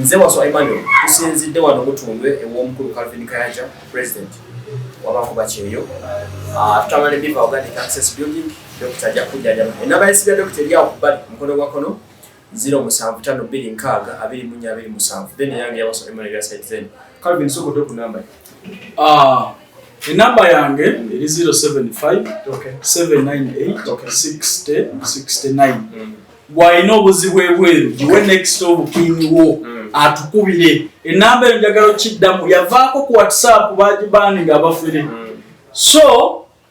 Nze Wasswa Emmanuel tusinzidde wano Mutundwe ew'omukulu Calvin Kayanja president wabakuba kyeyo ah, tutambula ne Biva Organic Access Building dokita ajja kujjanjaba enamba y'essimu ya dokita eri awo ku bbali mukono gwa kkono ziro musanvu ttaano bbiri nkaaga abiri mu nnya abiri musanvu then eyange ya Wasswa Emmanuel ya site zen Calvin sokodde ku namba Ah, enamba yange eri 0757986069 bw'alina obuzibu ebweru giwe next obukiini wo mm. atukubire enamba eyo njagala okiddamu yavaako ku whatsapp bagibaani nga abafere mm. so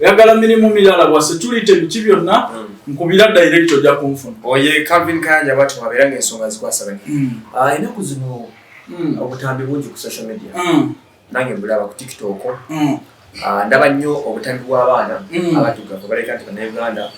oyagala mirimu mirala bwa security biki byonna hmm. nkubira direct ojja kunfuna oye oh, calvin kayanja bati wabeera ngaensonga zikwasabani hmm. ah, enaku zino hmm. obutambi bungi ku social media nange mbulaba ku tiktok ah, ndaba nnyo obutambi bw'abaana abatugavu baleka nti banauganda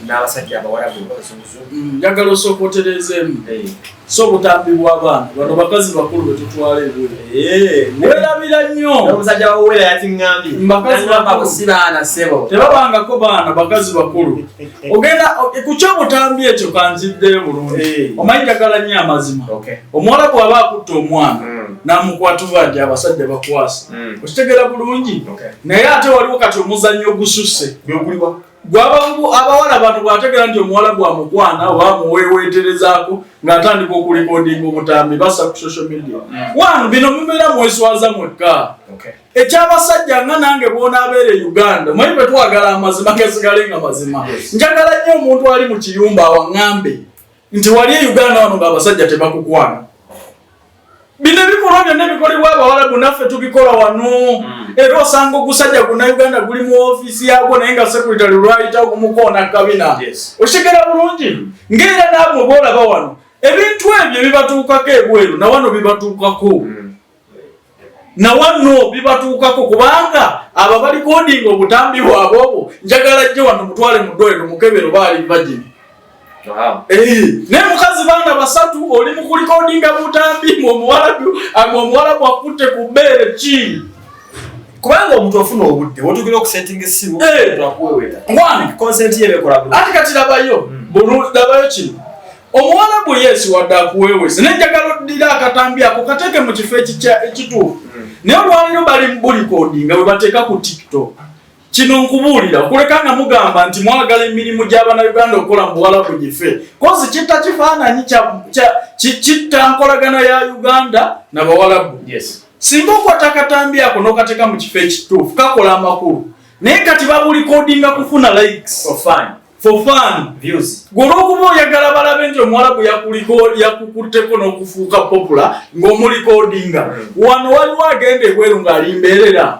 n'abasajja abawalabu abazunguzu njagala osooka otereezeemu eh. so obutambi bw'abaana bano bakazi bakulu be tutwala ebweru eh, werabira nnyo omusajja wawera yatingambye mbakazibaana sebo tebabangako baana bakazi bakulu ogenda ku kyobutambi ekyo kanziddeyo bulungi eh. omanyi dagala nnyo amazima omuwala bw'aba akutta omwana hmm. namukwata oba nti abasajja bakwasa hmm. okitegera bulungi naye ate waliwo kati omuzannyo ogususse gwabangu abawala bantu bwategera nti omuwala gwamukwana oba muweweterezaako ngaatandika okulikodinga obutambi basa ku social media mm. wanu bino mubeera mweswaza mwekka ekyabasajja nga nange bwonabeera e uganda mwe betwagala amazima gesigale nga mazima njagala nnyo omuntu ali mu kiyumba awaŋambe nti wali e uganda wano nga abasajja tebakukwana Bino ebikolwa byonna ebikolebwa Abawalabu naffe tubikola wano hmm. era osanga ogusajja guna Uganda guli mu ofiisi yaagwo naye nga sekuritale lwayita okumukoona kabina okitegera bulungi ng'era naabwe boolaba wano ebintu ebyo bibatuukako ebweru na wano bibatuukako hmm. na wano bibatuukako kubanga abo abalikodinga obutambi bwabwe obwo njagala jje wano mutwale mu ddwaliro mukebero baali vagini naye mukazi baana basatu oli mukulikodinga butambi mu omuwalabu ag omuwalabu akutte ku bbeere ki kubanga omuntu ofuna obudde wotugera okusetting esimu akuweweta one consent ye bekola bulungi ati kati labayo hmm. bulungi labayo kino omuwalabu yesu wadde akuweweza naye njagala oddira akatambi ako kateeke mu kifo ekituufu hmm. naye olwaliro bali mu bulikodinga bwe bateeka ku tiktok kino nkubuulira kuleka nga mugamba nti mwagala emirimu gy'abanauganda okukola mu buwalabu gife kozi kitta kifaananyi kitta nkolagana ya uganda na bawalabu singa okwata akatambi ako n'okateeka mu kifo ekituufu kakola amakulu naye kati babulikodinga kufuna likes for fun for fun views golokuba oyagala balabe nti omuwalabu yakuliko yakukutteko n'okufuuka popular ng'omulikodinga mm. wano waliwo agenda ebweru ng'alimbeerera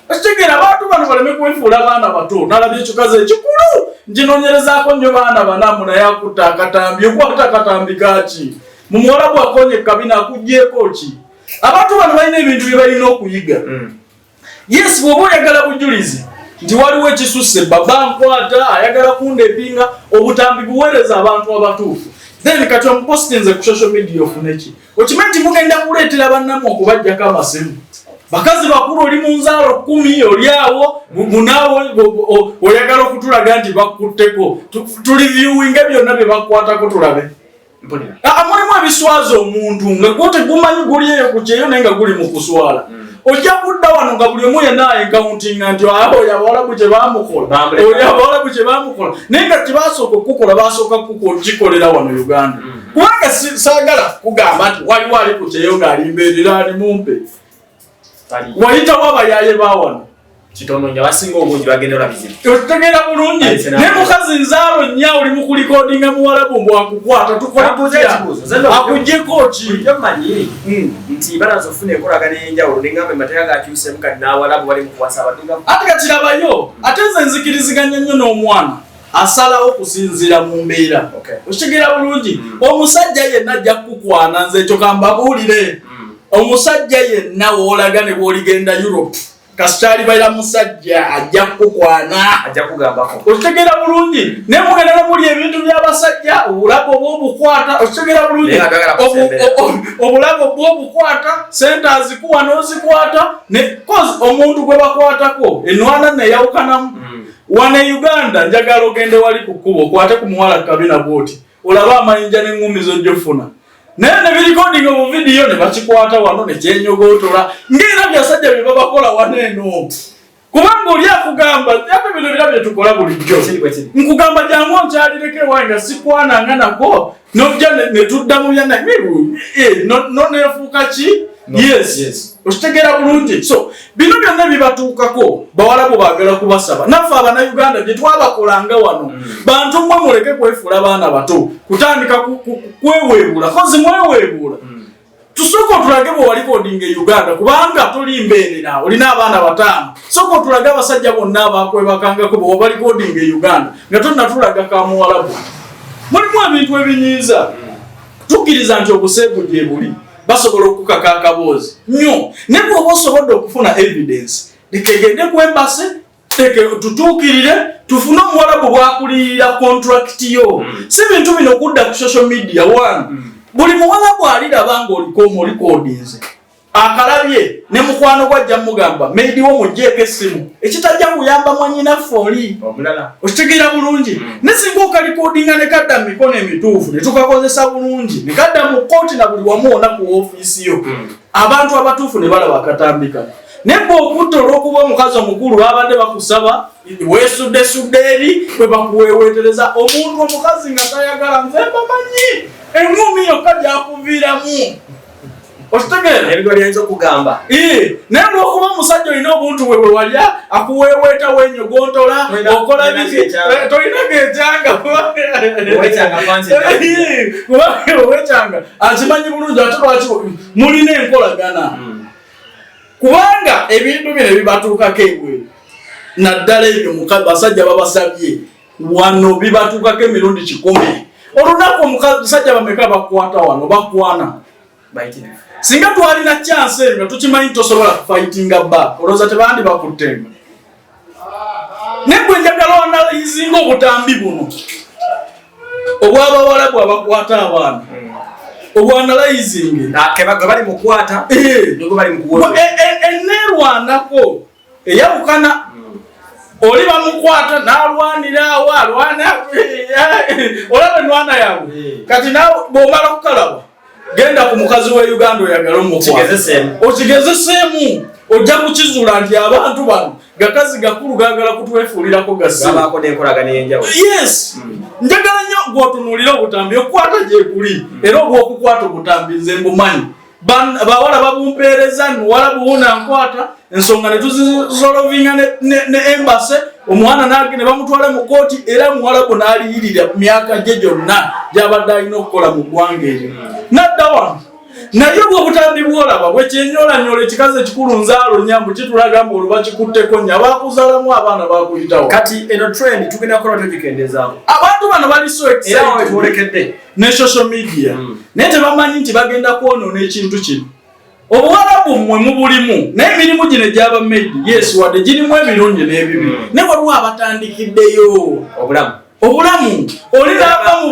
Okitegera abantu bano baleme kwefuula abaana bato nalaba ekikazi ekikulu njinonyerezaako nnyo baana banamu naye akutta akatambi okwata akatambi kaki mu muwala gwakonye kabina akugyeko ki abantu bano balina ebintu bye balina okuyiga hmm. yes bwoba oyagala bujulizi nti waliwo ekisusse baba nkwata ayagala kunda epinga obutambi buweereza abantu abatuufu then kati omupostinze ku social media ofuneki okimanyi nti mugenda kuleetera bannamwe okubajjako amasimu bakazi bakulu oli mu nzaalo kumi oli awo munaawo oyagala okutulaga nti bakutteko tuli viewinge byonna bye bakwatako tulabe amulimu ebiswaza omuntu nga gwotegumanyi guli eyo ku kyeyo naye nga guli mu kuswala mm. ojja kudda wano nga buli omu yena enkauntinga nti oyo abawalabu gye bamukola oyo abawalabu gye bamukola naye nga tibasooka okukukola basooka kukikolera wano uganda mm. kubanga sagala kugamba nti waliwo ali ku kyeyo ng'alimbeerera ali mumpe wayitawo abayaye bawano kitono nyo abasinga obungi bagenda ola bizibu otegera bulungi ne mukazi nzaalo nya oli mu kulikodinga muwalabu mbu akukwata tukolakujeko ki bulijjo manyi hmm. nti balaza ofuna enkolagana ey'enjawulo nengamba emateeka gakyusemu kati n'awalabu bali mu kuwasa abadinga ate kakirabayo ate nze nzikiriziganya nnyo n'omwana asalawo kusinzira mu mbeera okitegeera bulungi hmm. omusajja yenna ajja kukukwana nze ekyo kambabuulire hmm. omusajja yenna woolaga ne bwoligenda europe kasita alibeera musajja ajja kukukwana ajja kugambako okitegeera bulungi naye mugenda nomuli ebintu byabasajja obulago bwobukwata okitegeera bulungi obulago bwobukwata sente azikuwa nozikwata cause omuntu gwe bakwatako enwana neyawukanamu mm. wane uganda njagala ogende wali ku kkuba okwate ku muwala kabina bwoti olabe amayinja n'eŋŋumi z'ojja offuna naye ne birikodinga mu vidiyo ne bakikwata wano ne kyenyogootola ng'era byasajja bye babakola wano eno kubanga oli akugamba ate bino bira bye tukola bulijjo nkugamba jangu onkyalireko ewange nga sikwananga nako nojja ne tudda mu byanaye eh, noneefuuka ki okitegeera bulungi so bino byonna bibatuukako bawalabu baagala kubasaba naffe abanauganda gye twabakolanga wano mm. bantu mwe muleke kwefuula baana bato kutandika kweweebuula kozi mweweebuula mm. tusooka otulage bwe wali kodinga e uganda kubanga toli mbeerera olina abaana bataano sooka otulage abasajja bonna abakwebakangako bwe wabali kodinga e uganda nga tonatulaga ka muwalabu mulimu ebintu ebinyiiza mm. tukkiriza nti obuseegu gye buli basobola okukaka akaboozi nyo ne bwoba osobodde okufuna evidence lekegende ku embase tutuukirire tufune omuwalabu bwakuliyirira contract yo hmm. si bintu bino okudda ku social media one hmm. buli muwalabu aliraba nga olikomu olikodinze akalabye ne mukwano gwa ajja mugamba maybe wo mujjeeko essimu ekitajja kuyamba mwanyinaffe oli okitegeera bulungi mm. ne singa okalikodinga ne kadda mu mikono emituufu ne tukakozesa bulungi ne kadda mu kkooti na buli wamu ona ku ofiisi yo mm. abantu abatuufu ne balaba akatambika naye bwe okutta olw'okuba omukazi omukulu babadde bakusaba weesuddesudde eri bwe bakuweeweetereza omuntu omukazi nga tayagala nze mbamanyi eŋumi yokka gyakuviiramu okitegeera ebintu byayinza okugamba naye lwokuba omusajja olina obuntu bwe bwewalya akuweeweeta wenyo gwontola okola biki eh, tolinaga ekyanga owekyanga akimanyi bulungi ate lwaki mulina enkolagana hmm. kubanga ebintu bino ebibatuukako ebwe naddala ebyo basajja babasabye wano bibatuukako emirundi kikumi olunaku omusajja bameka bakwata wano bakwana singa twalina kyansi eyo nga tukimanyi tosobola kufaitinga ba olowooza tebandi bakuttenga naye gwe njagala wanalayizinga obutambi buno obwabawalabu abakwata abaana hmm. obwanalayizinga ah, bali mukwata eh. eh, eh, enerwanako eyawukana oli bamukwata nalwanira awo alwana olaba enwana yawe kati nawe bwomala okukalaba genda ku mukazi wa uganda oyagala omukwataokigezeseemu ojja kukizuula nti abantu bano gakazi gakulu gagala kutwefuulirako gasiyensi mm. njagala nnyo gwotunuulira obutambi okukwata gyekuli mm. era obwokukwata obutambi nze mbumanyi bawala babumpeereza nuwala buwuna nkwata ensonga netuzisolovinga ne embase omwana nage ne bamutwala mu kooti era muwalabu naaliyirira myaka gye gyonna gyabadde alina okukola mu ggwanga eryo nadda wano naye obwo obutambi bwolaba bwekyenyolanyola ekikazi ekikulu nzaalo nyambu kitulaga mbu oluba kikutteko nya bakuzalamu abaana bakuyitawo kati eno trend tugenda kukola togikendezaako abantu bano bali so era wetwolekedde ne social media mm. naye tebamanyi nti bagenda kwonoona ekintu kino obuwalabu mmwe mubulimu naye emirimu gino egyaba medi yes wadde girimu ebirungi n'ebibi mm. ne waliwo abatandikiddeyo obulamu obulamu oli naava mu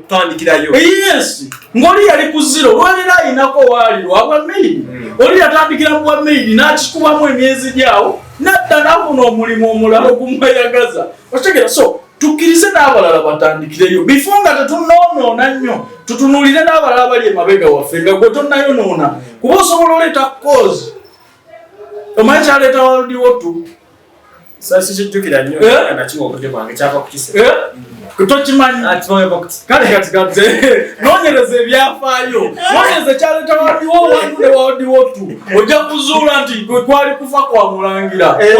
bamediyes ng'oli yali ku ziro olwaliro ayinako owaaliro abwa medi mm. oli yatandikira mu bwa medi n'akikubamu emyezi gyawo nadda nafuna omulimu omulala ogumweyagaza okitegera so tukkirize n'abalala batandikireyo bifo nga tetunoonoona nnyo tutunuulire n'abalala bali emabega waffe nga gwe tonnayonoona kuba osobola oleeta kozi omanyi kyaleeta waldiwo tu sasi kijjukira nnyo eh? nakiwa obudde bwange kyava kukise eh? tokimanyi kale kati kati nonyereza ebyafaayo nonyereza ekyaleeta waliwo wantu ne waliwo tu ojja kuzuula nti kwali kufa kwa mulangira eh,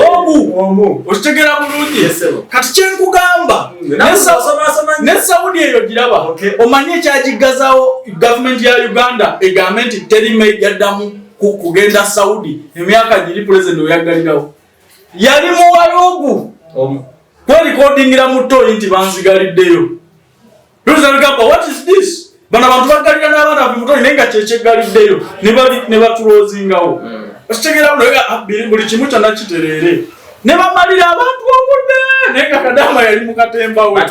omu okitegera bulungi kati kyenkugamba mm, ne saudi eyo giraba omanyi ekyagiggazawo gavumenti ya uganda egambe nti terime yaddamu kugenda saudi emyaka giri pulezidenti weyaggalirawo yali muwalugu kwelikodingira mu toyi nti banzigaliddeyo luzabigamba what is this bano abantu bagalira n'abaana be mutoyi naye nga kyekyegaliddeyo ne batulozingawo hmm. okitegera ah, buli kimu kyonna kitereere ne bamalira abantu obudde naye nga kadaama yali mu katemba we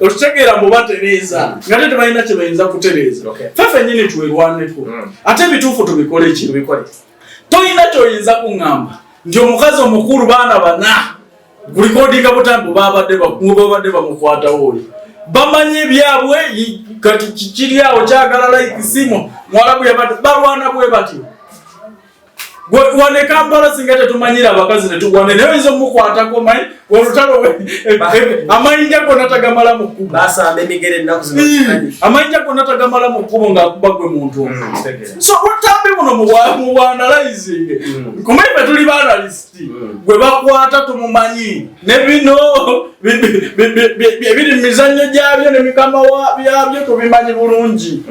okitegeera mbu batereeza hmm. nga te tebalina kye bayinza kutereeza fe fenyini twerwaneko hmm. ate ebituufu tubikole ki tolina kyoyinza kuŋŋamba nti omukazi omukulu baana bana gulikodinga butambi babadde bamukwatawo oli bamanyi ebyabwe kati kikiri awo kyagala laikisimu mwalabu yabadde balwana bwe batyo wane kampala singa tetumanyira abakazi netugwane naye oyinza omukwatako manyi olutalo eh, eh, amayinja gonna tagamala mu kkubo basamba emigere ennaku zino hmm. amayinja gonna tagamala mu kkubo ng'akuba gwe muntu hmm, so obutambi buno mu bwanalizing hmm. kumai fe tuli baanalist gwe bakwata tumumanyi ne bino ebiri mu mizannyo gyabyo ne mikama byabyo tubimanyi bulungi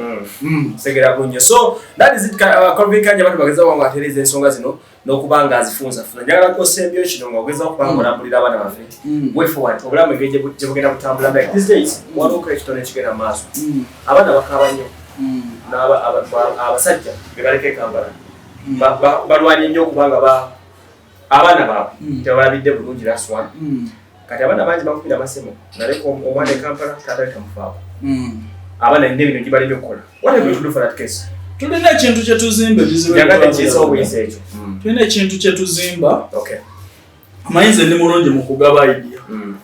segera bunyo so that is it uh, kalvin kanja batu bageza wangu atereza ensonga zino nokuba nga azifunzafuna njagala kosembyo kino nga ogeza okuba nga olambulira abaana baffe mm. way forward obulamu engeri gye bugenda kutambula like these days mm. waliwo kale kitone kigenda mu maaso mm. abaana bakaaba nnyo abasajja be baleka ekambala balwanye nnyo okuba nga abaana baabwe tebalabidde bulungi laswan kati abaana bangi bakubira masemo naleka omwana ekampala taata letamufaako hmm. abaana nina ebintu gibaleme okukola wataetudufalatkeso tulina ekintu kyetuzimba ebizibuyagatkiisaobuyisa ekyo hmm. tulina ekintu kyetuzimba amayinza ndi mulungi mu kugaba idia hmm.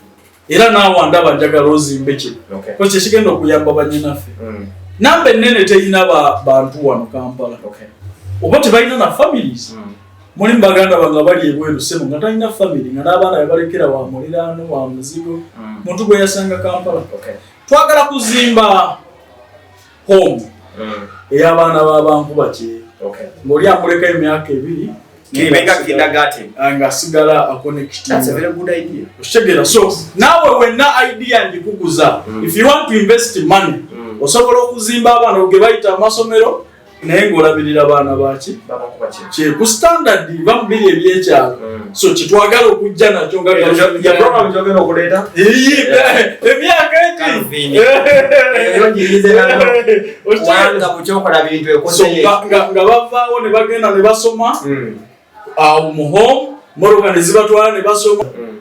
era naawa ndaba njagala ozimbe kino ko kyekigenda okuyamba banyinaffe namba ennene terina bantu wano kampala oba tebalina na families mulimu baganda bange abali ebweru sebo nga talina famiry nga n'abaana bebalekera wa muliraano wa muzigo mm. muntu gwe yasanga kampala twagala kuzimba home mm. ey'abaana b'abankuba kye ng'oli amuleka emyaka ebiri ah, ng'asigala akonekitiokitegeera so naawe wenna idea ngikuguza mm. if you want to invest money osobola okuzimba abaana oge bayita amasomero naye ng'olabirira baana baki kyeku standard bamubiri ebyekyalo hmm. so kyetwagala okujja nakyo ngaogenda nga bavaawo ne bagenda ne basoma hmm. awo muhom moroka ne zibatwala ne basoma hmm.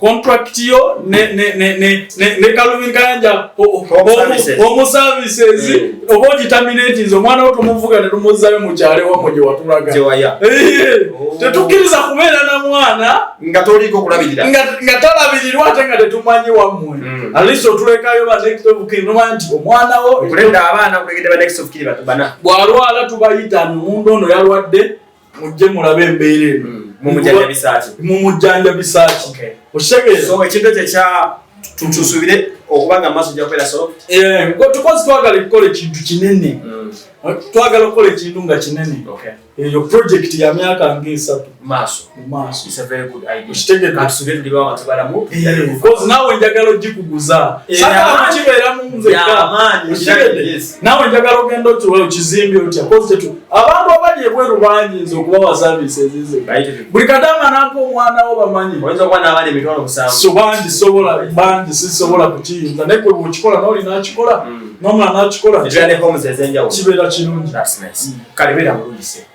contract yo ne ne ne ne ne, ne Calvin Kayanja omu services mm. obo determinate nzo mwana wotu muvuga ne tumuzayo mu kyale wa moje watulaga je waya eh, oh. tetukiriza kubera na mwana nga toli ko kulabirira nga nga talabirira ate nga tetumanyi wa mwe mm. at least otuleka yo ba next of kin no manti omwana wo kulenda abana kulegede ba next of kin batubana bwalwala tubayita mundu ono yalwadde mujje mulabe embeera eno hmm. mumujjanjabisaaki mumujjanjabisaaki okitegeera so ekintu ekyo ekya tutusubire okuba nga amaaso jakwera solo eh, tukozi twagala kukola ekintu kinene hmm. twagala okukola ekintu nga kinene eyo eh, project ya myaka nga esatu naawe njagala ogikuguza kibeeramu nzeka naawe njagala ogenda okiwa okizimbi otya abantu abali ebweru banyinza okubawa saviisi ezize buli kadama nampa omwana wo bamanyi so bangi sobola bangi sisobola kukiyinza naye kwe bwokikola noli nakikola hmm. nomwana nakikola kibeera kirungi hmm.